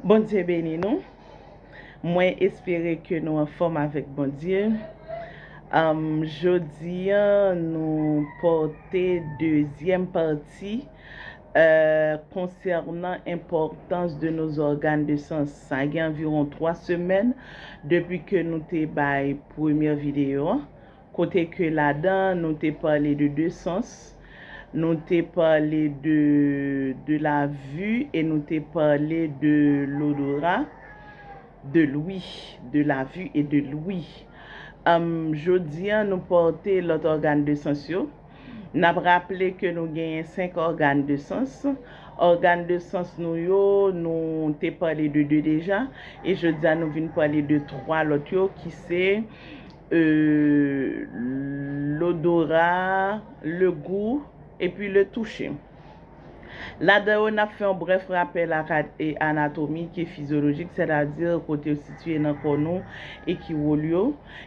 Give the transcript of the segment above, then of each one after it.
Bondye beni nou mwen espere ke nou anfòm avèk Bondye jodi an nou pote dezyèm pati konsènan enpòtans de nos organes de sens sa gen anviron 3 semèn depi ke nou te bay premyè videyo an. kote ke ladan nou te pale de 2 sans, nou te pale de de la vue e nou te pale de lodora, de l'ouïe, de la vue et de l'ouïe. Jodi an nou pòte lòt ògàn de sans yo. N ap raple ke nou genyen 5 ògàn de sans. Ògàn de sans nou yo, nou te pale de 2 deja e jodi a nou vin pale de 3 lòt yo ki se. euh lodora, le gou, epi le touche. Ladan yo nap fè yon brèf rapèl ak anatomik e fizyolojik sètadi kote yo sitiye nan kò nou e ki wol yo,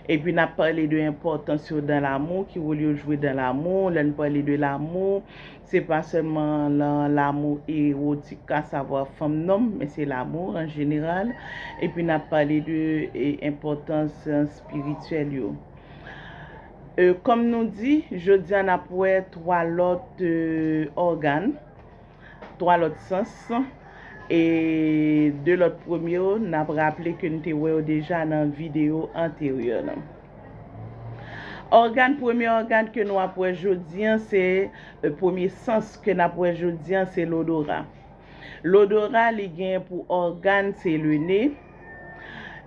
epi nap pale de enpòtans yo dan lamou, ki wol yo jwe dan lamou, lè n pale de lamou, Se pa sèlman lan lamou ewotik ka savwa fanm nonm men se lamou an jeneral epi nap pale de enpòtans spirityèl yo. E kòm nou di jodia nap wè 3 lòt ògàn, 3 lòt sans e 2 lòt premye yo nap raple ke n te wè yo deja nan videyo anteryè lan. Ògàn, premye ògàn ke nou ap wè jodi an se, premye sans ke nap wè jodi an se lodora. Lodora li gen pou ògàn se le ne,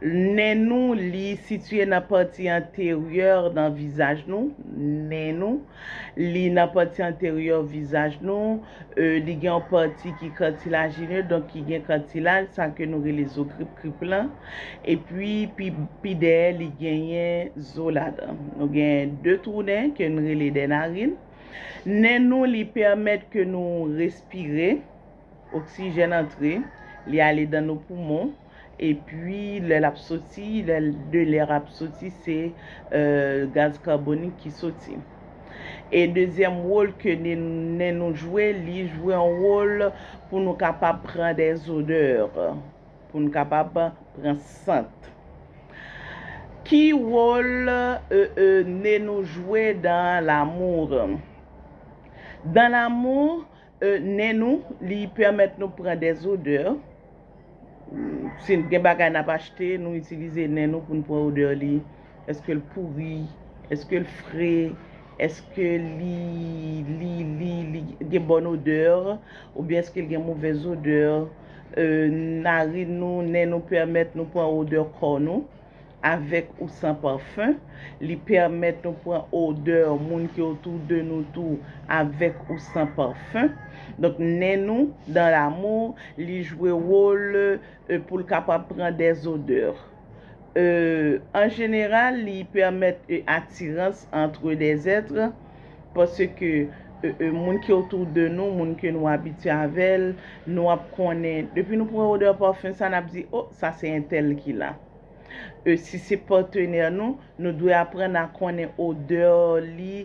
nen nou li sitye nan pati anteryè nan vizaj nou, nen nou, li nan pati anteryè vizaj nou, li gen yon pati ki katilajine donk ki gen katilaj sa ke nou rele zo krip krip lan. Epi pi dèyè li genyen zo ladan. Nou gen 2 twou nen ke n rele dè narin. Nen nou li pèmèt ke nou respire, oksijèn antre, li ale dan nou poumon, epi lè l ap soti, lè de lè a ap soti se gaz kabonik ki soti. E dezyèm wol ke nen nou jwe, li jwe yon wol pou nou kapab pran dè zodè. Pou n kapab pran sant. Ki wol ne nou jwe dan lamour? Dan lamour, ne nou li pèmèt nou pran des odeur. Si gen bagay nap achte, nou itilize ne nou pou n pran odeur li. Eske l pouri? Eske l fre? Eske li li li li gen bòn odè? Oubyen eske l gen movèz odè? Narin nou, nen nou pèmèt nou pran odè kò nou, avèk ou san pafen. Li pèmèt nou pran odè moun ki otou de nou tou, avèk ou san pafen. Donk nen nou, dans l'amour, li jwe wol pou l kapab pran dè zodè. e an jeneral li pèmèt e atirans antre de zètre paske e moun ki otou de nou moun ke nou abitye avèl nou ap konnen depi nou pran odè parfum sa nap di oh sa se entèl ki la e si se patenè nou nou dwe aprann a konnen odè li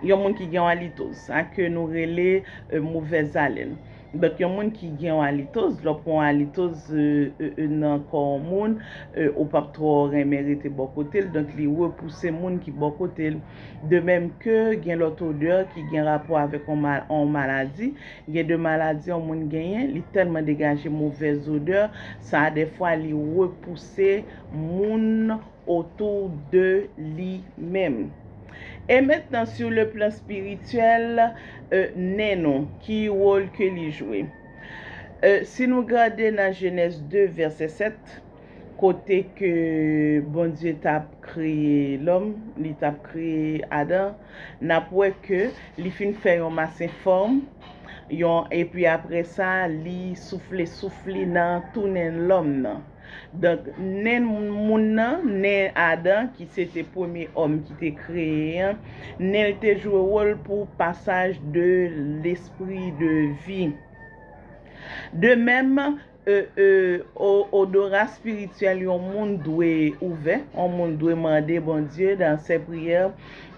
Yon moun ki gen yon alitoz. Sa ke nou rele movèz alèn. Donk yon moun ki gen yon alitoz, lè w pran yon alitoz nan kò yon moun, ou pap twò renmen rete bò kote l, donk li repouse moun ki bò kote l. De menm ke gen lòt odè ki gen rapò avèk yon maladi. Gen de maladi yon moun genyen, li tèlman degaje movèz odè, sa dèfwa li repouse moun. otou de li menm. E mentnan sur le plan spirituel e nen nou ki role ke li jwe? E si nou gade nan Genèse 2 verset 7 kote ke Bondye tap kreye lòm, li tap kreye Adan, nap wè ke li fin fè yon mas enfòm, yon epi apre sa li soufle souf li nan tou nen lòm nan. Donk, nen moun nan, nen Adan, ki se te premye òm ki te kreye an, nen l te jwe wòl pou pasaj de lespri de vi. De menm, odora espirityèl yon moun dwe ouvè, yon moun dwe mande Bondye dan sè priyè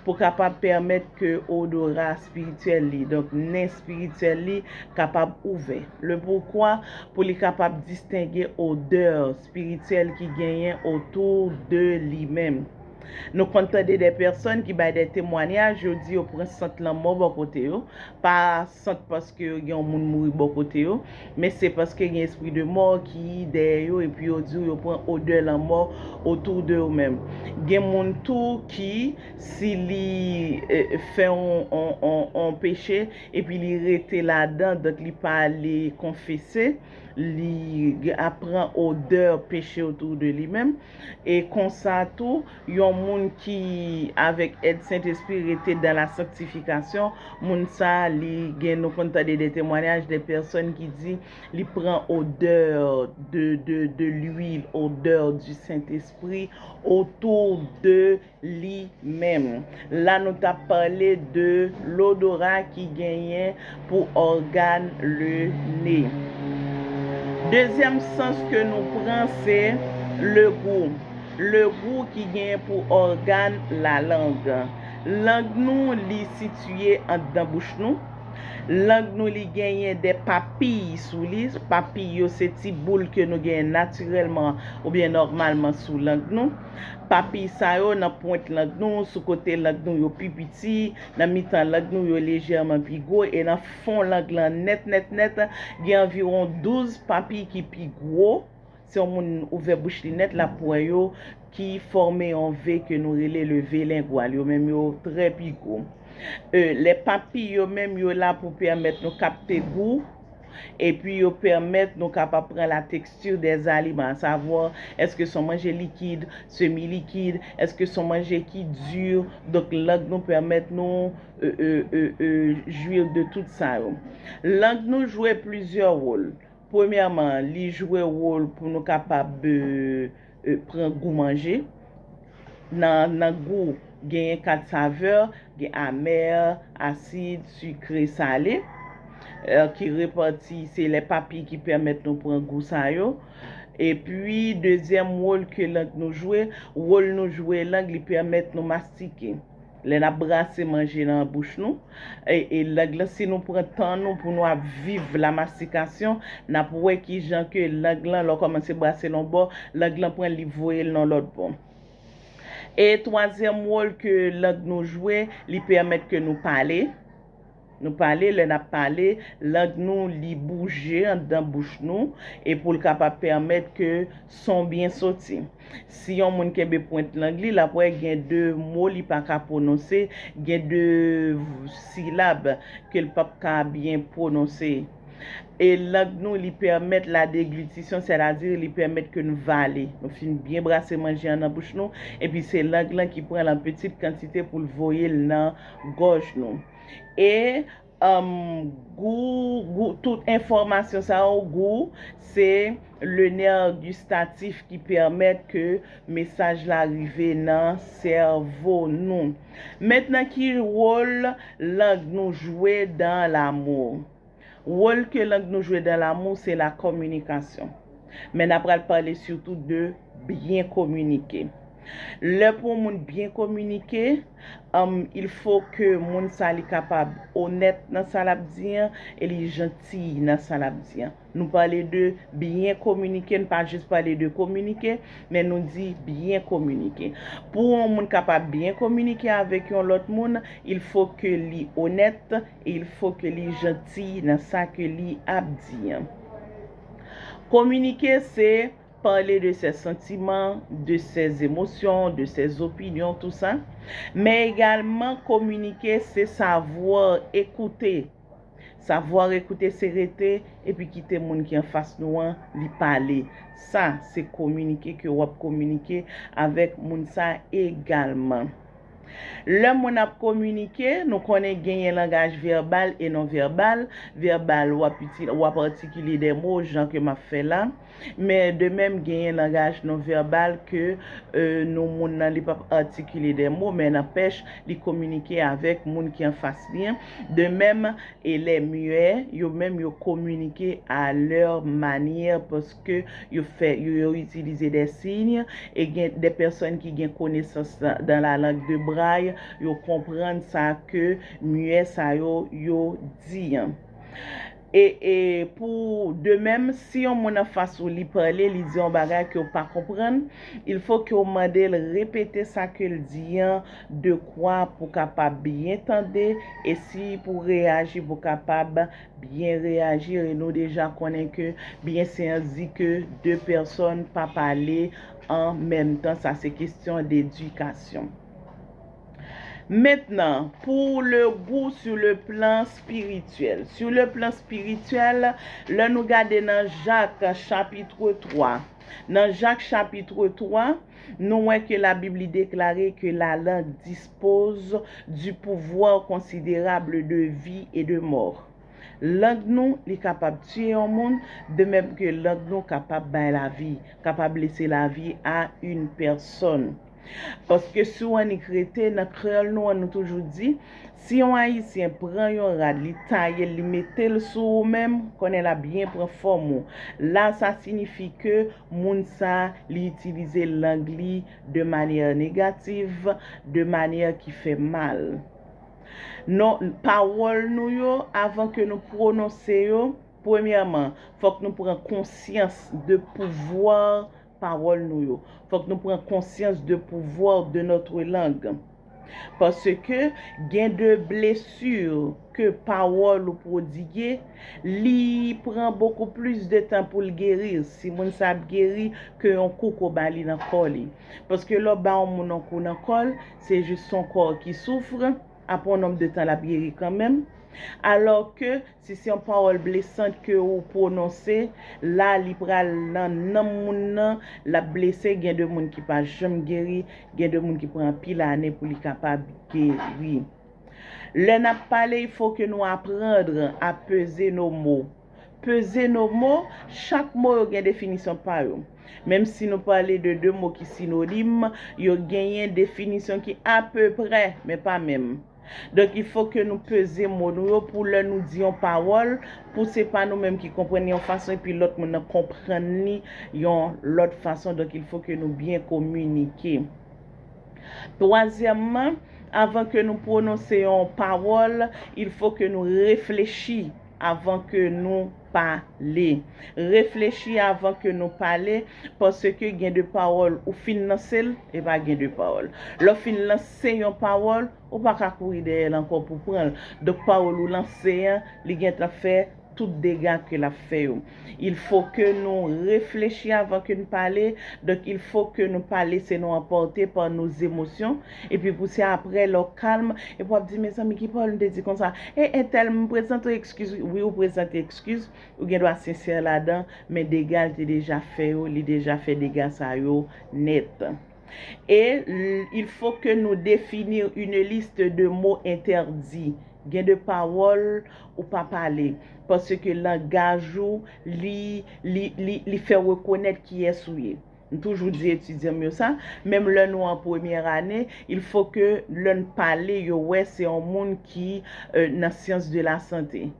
pou kapab pèmèt ke odora espirityèl li, donk nen espirityèl li, kapab ouvè. Le pourquoi, pou li kapab distenge odè espirityèl ki genyen otou de li menm. Nou konn tande dè pèsòn ki bay dè temwanyaj, yo di yo pran sant lanmò bò kote yo, pa. sant paske yo gen yon moun mouri bò kote yo, men se paske gen espri de mò ki dèyè yo epi yo di w yo pran odè lanmò autour de yo menm. Gen moun tou ki si li fè yon peche epi li rete ladan donk li pa ale konfese, li ap pran odè peche autour de li menm. E konsa tou, yon moun ki avèk èd Sentespri rete dan la sanktifikasyon, moun sa a li gen nou konn tande de temwanyaj de pèsòn ki di li pran odè de de de lwil, odè di Sentespri otou de li menm. La nou t ap pale de lodora ki genyen pou ògàn le ne. Dezyèm sans ke nou pran se le gou. Le gou ki genyen pou ògàn la lang. Lang nou li sitiye andan bouch nou. Lang nou li genyen de papiy sou li. Papiy yo se ti boul ke nou genyen natirèlman oubyen nòmalman sou lang nou. Papiy sa yo nan pwent lang nou, sou kote lang nou yo pi piti, nan mitan lang nou yo lejèman pi gwo e nan fon lang lan nèt nèt nèt, gen anviwon douz papiy ki pi gwo, si yon moun ouvè bouch li nèt l ap wè yo, ki fòme yon V ke nou rele le V lengwal. Yo menm yo trè pi gwo. E, lè papiy yo menm yo la pou pèmèt nou kapte gou. epi yo pèmèt nou kapab pran la texture des aliments, à savoir, èske son manje likid, semi likid, èske son manje ki di, donk lang nou pèmèt nou jouir de tout sa yo. Lang nou jwe plizyè wol, premyèman li jwe wol pou nou kapab. pran gou manje. Nan gou, genyen 4 savè, gen amè, asid, sikre, sale, ki repati, se lè papye ki pèmèt nou pran gou sa yo. Epi, dezyèm wòl ke lang nou jwe, wòl nou jwe lang li pèmèt nou mastike. Lè nap brase manje nan bouch nou, e lang lan si nou pran tan nou pou nou ap viv la mastikasyon, nap wè kijan ke lang lan lè w kòmanse brasel yon bò, lang lan pran li voye l nan lòt bò. E twazyèm wòl ke lang nou jwe, li pèmèt ke nou pale. Nou pale, lè n ap pale, lang nou li bouje anndan bouch nou e pou l kapab pèmèt ke son byen soti. Si yon moun kenbe pwent lang li, l ap wè gen de mo li pa ka pwononse, gen de silab ke l p ap ka byen pwononse. E lang nou li pèmèt la deglutisyon, sètadi li pèmèt ke n vale. Nou fin byen brase manje an nan bouch nou, epi se lang lan ki pran l an pitit kantite pou l voye l nan. gòj nou. E umm gou gou tout enfòmasyon sa yo gou se le nerf gustatif ki pèmèt ke mesaj la rive nan sèvo nou. Mentnan ki wol lang nou jwe dans l'amour? Wol ke lang nou jwe dan lamou se la kominikasyon. Men na pral pale sitou de byen kominike. Lè pou yon moun byen kominike, em il fo ke moun sa li kapab onèt nan sa lap di an e li jantiy nan sa lap di an. Nou pale de byen kominike, n pa jis pale de kominike, men nou di byen kominike. Pou yon moun kapab byen kominike avèk yon lòt moun, il fo ke li onèt, Il fo ke li janti nan sa ke li ap di an. Kominike se pale de sè santiman, de sè zemosyon, de sè zopinyon, tou sa. Men egalman kominike se savoir écouter. Savoir écouter se rete epi kite moun ki an fas nou an li pale. Sa se kominike ke wap kominike avèk moun sa egalman. Lè moun ap kominike, nou konnen genyen langaj vèbal e non vèbal, vèbal w ap itil, w ap atikile de mo jan ke m ap fè la, men de menm genyen langaj non vèbal ke nou moun nan li p ap atikile de mo men nanpèch li kominike avèk moun ki anfas li an, de menm e lè muet, yo menm yo kominike a lè manyè paske. ke yo fè yo yo itilize dè siy e gen dè pèsòn ki gen konesans dan la lang de bray yo konprann sa ke muè sa yo yo di an. E e pou de mèm si yon moun an fas ou li pale li di yon bagay ke ou pa konprann il fo ke ou mande l repete sa ke l di an de kwa pou kapab byen tande e si pou reyaji pou kapab Byen reyajir e nou deja konnen ke byen se an di ke 2 pèsòn pa pale an menm tan sa se kestyon d'edikasyon. Mentnan pou le gou sou le plan spirityèl. Sou le plan spirityèl lè nou gade nan Jak chapitre 3 nan Jak chapitre 3. Nou wè ke la Bibli deklare ke la langue dispose du pouvoir considérable de vie et de mort. Lang nou, li kapab tiye yon moun, de mèm ke lang nou kapab bay la vi, kapab lese la vi a une personne. Paske si w annik rete nan kreyòl nou an nou toujou di, si yon Ayisyen pran yon rad li taye l li mete l sou ou menm, konnen l ap byen pran fòm ou. La sa sinifi ke moun sa, li itilize lang li de manyè negativ, de manyè ki fè mal. Non, pawòl nou yo, avan ke nou pwononse yo, premyèman, fòk nou pran konsyans de pouvwa pawòl nou yo. Fòk nou pran konsyans de pouvwa de notre langue. Paske gen de blessure ke pawòl ou pwodigue, li pran bokou plis de tan pou l gerir, si moun sa ap geri, ke yon kou ke w ba li nan kò li. Paske lè w ba yon moun yon kou nan kò l, se jis son kò ki souffre, apre yon nonb de tan l ap geri kanmenm. Alò ke, Si se yon pawòl blesant ke ou pwononse, la li pral nan nanm moun nan, lap blese, gen de moun ki pa janm geri, gen de moun ki pran anpil ane pou li kapab geri. Lè nap pale il faut ke nou apprendre a peser nos mots. Peser nos mots, chak mo yo gen definisyon pa yo. Menm si nou pale de 2 mo ki synonyme, yo genyen definisyon ki a peu près, men pa menm. Donk il fo ke nou peze mo nou yo pou lè nou di yon pawòl, pou se pa nou menm ki konprann li yon fason epi lòt moun nan konprann li yon lòt fason, donk il fo ke nou byen kominike. Twazyèmman, avan ke nou pwononse yon pawòl, il fo ke nou reflechi. avan ke nou pale. Reflechi avan ke nou pale, paske gen de pawòl ou fin lanse l, e pa gen de pawòl. Lè w fin lanse yon pawòl, ou pa ka kouri dèyè l ankò pou w pran l. Donk pawòl ou lanse an, li gentan fè tout dega ke l ap fè yo. Il fo ke nou reflechi avan ke n pale, donk il fo ke nou pa lese nou anpòte pa nou zemosyon, epi pou se apre lè w kalm, epi w ap di mezanmi ki pawòl m te di konsa, e entèl m prezante w ekskiz wi, wi ou prezante ekskiz, ou gen dwa sensè ladan, men dega l te deja fè yo, li deja fè dega sa yo nèt. E il faut que nou definir une liste de mots interdits. Gen de pawòl ou pa pale. Paske langaj ou li, li, li, li fè w rekonèt kiyès ou ye. M toujou di etidyan m yo sa. Menm lè nou an premyè ane, il faut que lè n pale yo wè se yon moun ki nan sciences de la santé.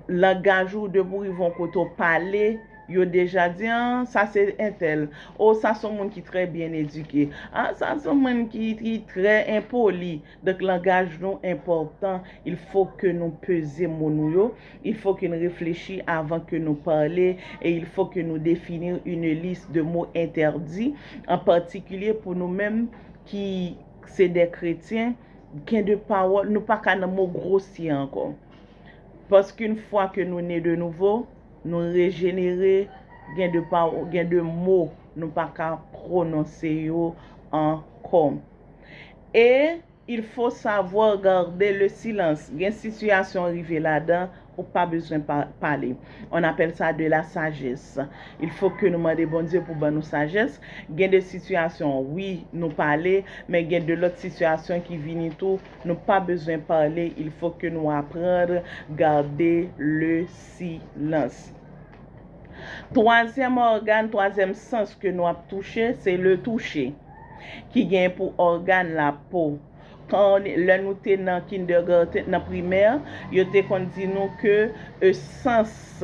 langaj ou depi w rive yon kote w pale yo deja di an sa se entèl o sa se yon moun ki trè byen edike a sa se yon moun ki trè enpoli donk langaj nou enpòtan il fo ke nou peze mo nou yo il fo ke nou reflechi avan ke nou pale e il fo ke nou defini yn lis de mo entèdi an patikilye pou nou menm ki se dè kretyen gen de pawòl, nou pa ka nan mo grosye ankò. Paske yn fwa ke nou ne de nouvo, nou rejenere, gen de pawò, gen de mo nou pa ka pwononse yo ankò. E il faut savoir garder le silence. Gen sitiyasyon rive ladan Ou pa bezwen pale. On appelle ça de la sagesse. Il faut que nou mande Bondye pou ban nou sajès. Gen de sitiyasyon wi nou pale, men gen de lòt sitiyasyon ki vini tou nou pa bezwen pale, il faut que nou apprendre garder le silence. Twazyèm ògàn, twazyèm sans ke nou ap touche, se le touche. Ki gen pou ògàn la po. Kon, lè nou te nan kindergarten, nan primè, yo te konn di nou ke e sans,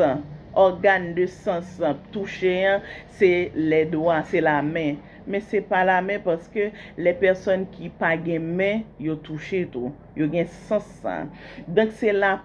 ògàn de sans touche an, se lè dwa, se la men. Men se pa la men paske lè pèsòn ki pa gen men, yo touche tou. Yo gen sans sa. Donk se la.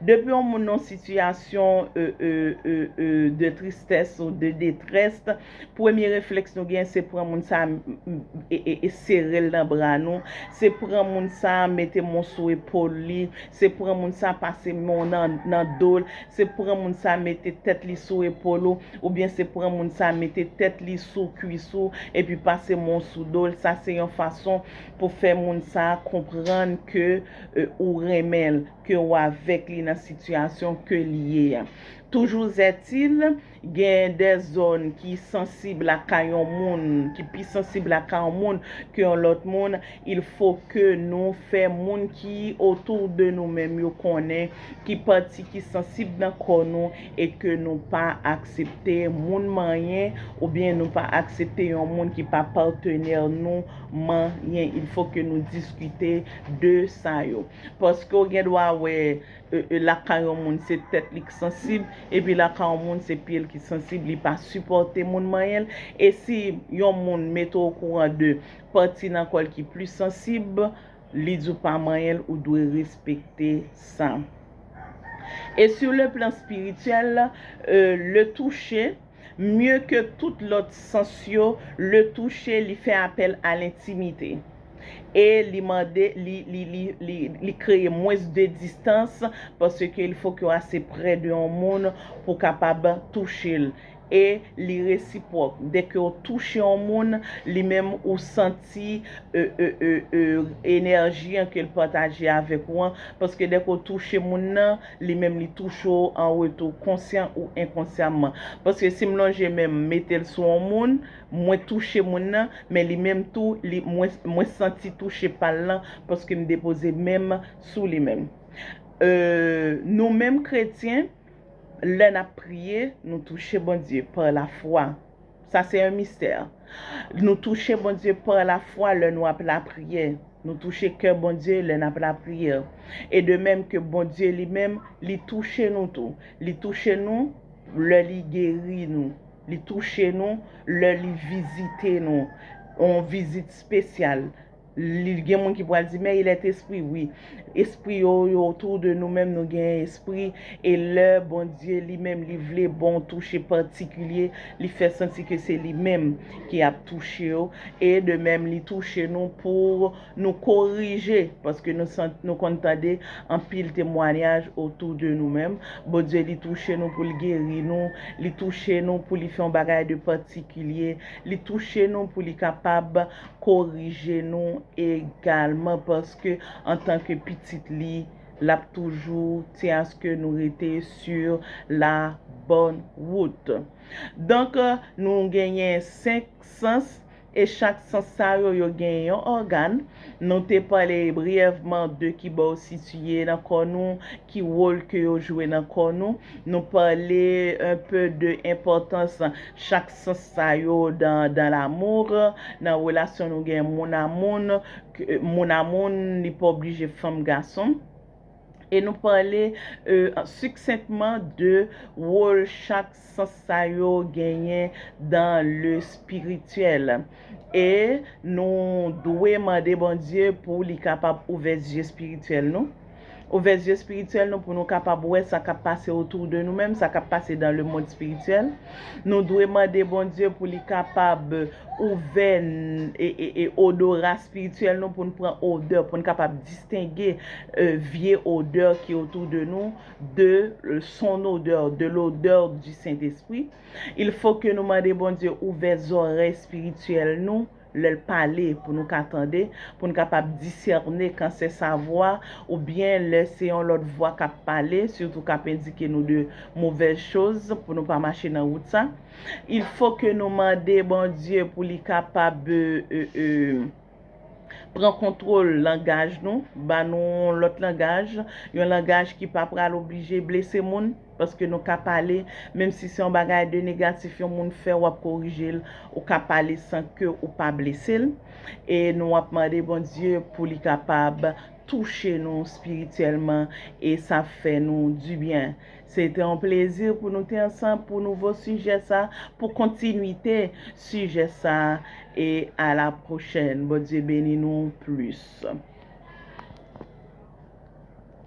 Depi yon moun nan sitiyasyon de tristès ou de detrèst, premye reflèks nou gen se pran moun sa e serel nan bra nou, se pran moun sa mete men w sou epol li, se pran moun sa pase men w nan do l, se pran moun sa mete tèt li sou epol ou, oubyen se pran moun sa mete tèt li sou kwis ou epi pase men w sou do l, sa se yon fason pou fè moun sa konprann ke e ou renmen l, ke ou avèk li nan sitiyasyon ke li ye a. Toujouzètil, gen de zòn ki sansib lakay yon moun, ki pi sansib lakay yon moun ke yon lòt moun, il fo ke nou fè moun ki otou de nou menm yo konnen ki pati ki sansib nan kò nou e ke nou pa aksepte moun manyen oubyen nou pa aksepte yon moun ki pa patenè nou manyen. Il fo ke nou diskite. de sa yo. Paske w gen dwa wè lakay yon moun se tèt li k sansib, epi lakay yon moun se pye l ki sansib, li pa sipòte moun manyen l. E si yon moun mete w okouran de pati nan kò l ki plis sansib, li di w pa manyen l, ou dwe respekte sa. E sur le plan spirituel, le toucher, mye ke tout lòt sans yo, le touche li fè apèl a lentimite e li mande li li li li li kreye mwens de distans paske il fok yo ase prè de yon moun pou kapab touche l e li resipwòk dè ke w touche yon moun li menm ou santi e e e e enèji an ke l pataje avèk ou an paske dè ke w touche moun nan Li menm li touche w an retou, konsyan ou enkonsyamman. Paske si m lonje men m mete l sou on moun, mwen touche moun nan, men li menm tou, li, mwen, mwen santi touche pa l lan, paske m depoze men m sou li menm. E, nou menm kretyen, lè n ap priye, nou touche Bondye, pa lafwa. Sa se un mystère. Nou touche Bondye par la foi lè nou ap lapriyè. Nou touche kè Bondye lè nap lapriyè. E de mèm ke Bondye li menm li touche nou tou. Li touche nou lè li geri nou. Li touche nou lè li vizite nou. On vizit spesyal. Li gen moun ki pral di, men il est esprit wi. Espri yo, yo tou de nou menm nou gen espri e lè Bondye li menm li vle ba w touche patikilye, li fè santi ke se li menm ki ap touche w e de menm li touche nou pou nou korije paske nou san nou konn tande anpil temwanyaj otou de nou menm Bondye li touche nou pou l geri nou, li touche nou pou li fè yon bagay de patikilye, li touche nou pou li kapab. korije nou egalman paske antan ke pitit li lap toujou ti aske nou rete sur la bonne route donk nou genyen 5 sans e chak sans sa yo yo genyen yon ògan nou te pale briyèvman de kibo yo sitiye nan kò nou ki wol ke yo jwe nan kò nou nou pale un peu de enpòtans chak sans sa yo dans dans l'amour, nan relasyon nou gen moun a moun, moun a moun, li pa oblije fanm gason. E nou pale succinctement de wol chak sans sa yo genyen dans le spirituel. E nou dwe mande Bondye pou li kapab ouvè zye spirituel nou. Ouvè zye spirityèl nou pou nou kapab wè sa kap pase otou de nou menm, sa kap pase dan le mond spirityèl. Nou dwe mande Bondye pou li kapab ouvè odora spirityèl nou poun pran odè, poun kapab distenge vye odè ki otou de nou de son odè, de lodè di Sentespri. Il fo ke nou mande Bondye ouvè zòrèy spirityèl nou. lè l pale pou nou ka tande, pou n kapab disène kan se sa vwa ou byen lè se yon lòt vwa k ap pale, sitou k ap endike nou de movèz choz pou nou pa mache nan wout sa. Il fo ke nou mande Bondye pou li kapab pran kontwol langaj nou, ba nou yon lòt langaj, yon langaj ki pa pral oblije blese moun. Paske nou ka pale, menm si se yon bagay de negatif yon moun fè, wap korije l, ou ka pale san ke ou pa blese l. E nou ap mande Bondye pou li kapab touche nou spirityèlman e sa ap fè nou di byen. Se te yon plezi pou nou te ansanm pou nouvo sijè sa, pou kontinwite sijè sa e a la pwochèn. Bondye beni nou plis.